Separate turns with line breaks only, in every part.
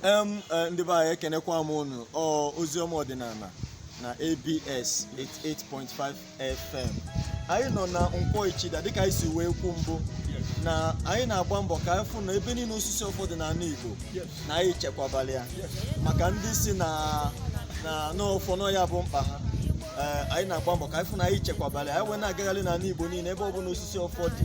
em eh, ndị be anyị ekenekwa m unu ọ oziọma ọdịnala na abs 88.5 fm anyị nọ na nkwọ ichida dịka anyị si wee kwu mbụ na anyị na-agba mbọ ka anyị fụ na ebe niile osisi ọfọ dị n'ala igbo na anyị chekwabara ya maka ndị sị na na ọfọ na ọ ya bụ mkpa ha Eh, anyị na-agba mbọ ka anyị fụ na anyị chekwabara ya anyị wee na-agagharị n'ala igbo niile ebe ọ bụla osisi ọfọ dị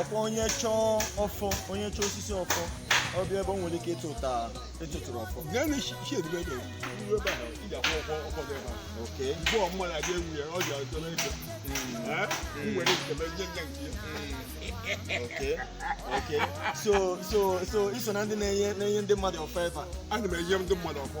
ọkwa onye
chọọ ọfọ onye chọọ osisi ọfọ ọ bịa ebe o nwere ike ịtụta ịtụtụrụ ọfọ
okay okay
okay so so so i so na ndị na-enye na-enye ndị mmadụ ọfọ ebe a ana m enye ndị mmadụ
ọfọ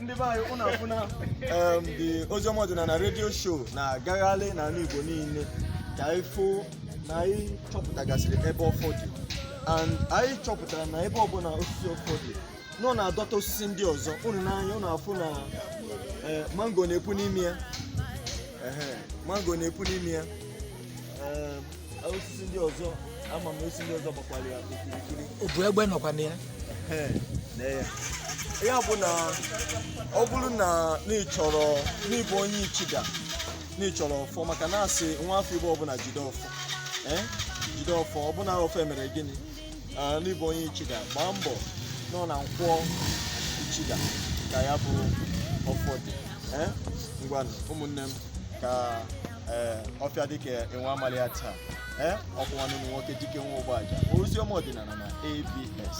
ndị be anyị ụnụ afụna em, the oziọma ọdịnala radio show na-agagharị n'ala igbo niile ka anyị fụ na anyị chọpụtagasịrị ebe ọfọ dị and anyị chọpụtara na ebe ọbụla osisi ọfọ dị na ọ na-adọta osisi ndị ọzọ ụnụ n'anya ụnụ afụ na eh, mango na-epu n'ime ya Ehe, mango na-epu n'ime ya osisi ndị ọzọ ama m osisi ndị ọzọ gbakwara ya okirikiri obu egbe nọkwa
na
ya ya bụ na ọ bụrụ na na ị chọrọ na ị bụ onye ichida na ị chọrọ ọfọ maka na a sị nwa afọ igbo ọbụla jide ọfọ jide ọfọ ọbụla ọfọ emere gịnị na ị bụ onye ichida gbaa mbọ na ọ na nkwọ ichida ka ya bụ ọfọ dị ngwanụ ụmụnne m ka ee ọfịa dị ka enwe amalị ya taa ee ọkwa nwanne ụnụ nwoke dike nwa ụgbọaja oziọma ọdịnala na abs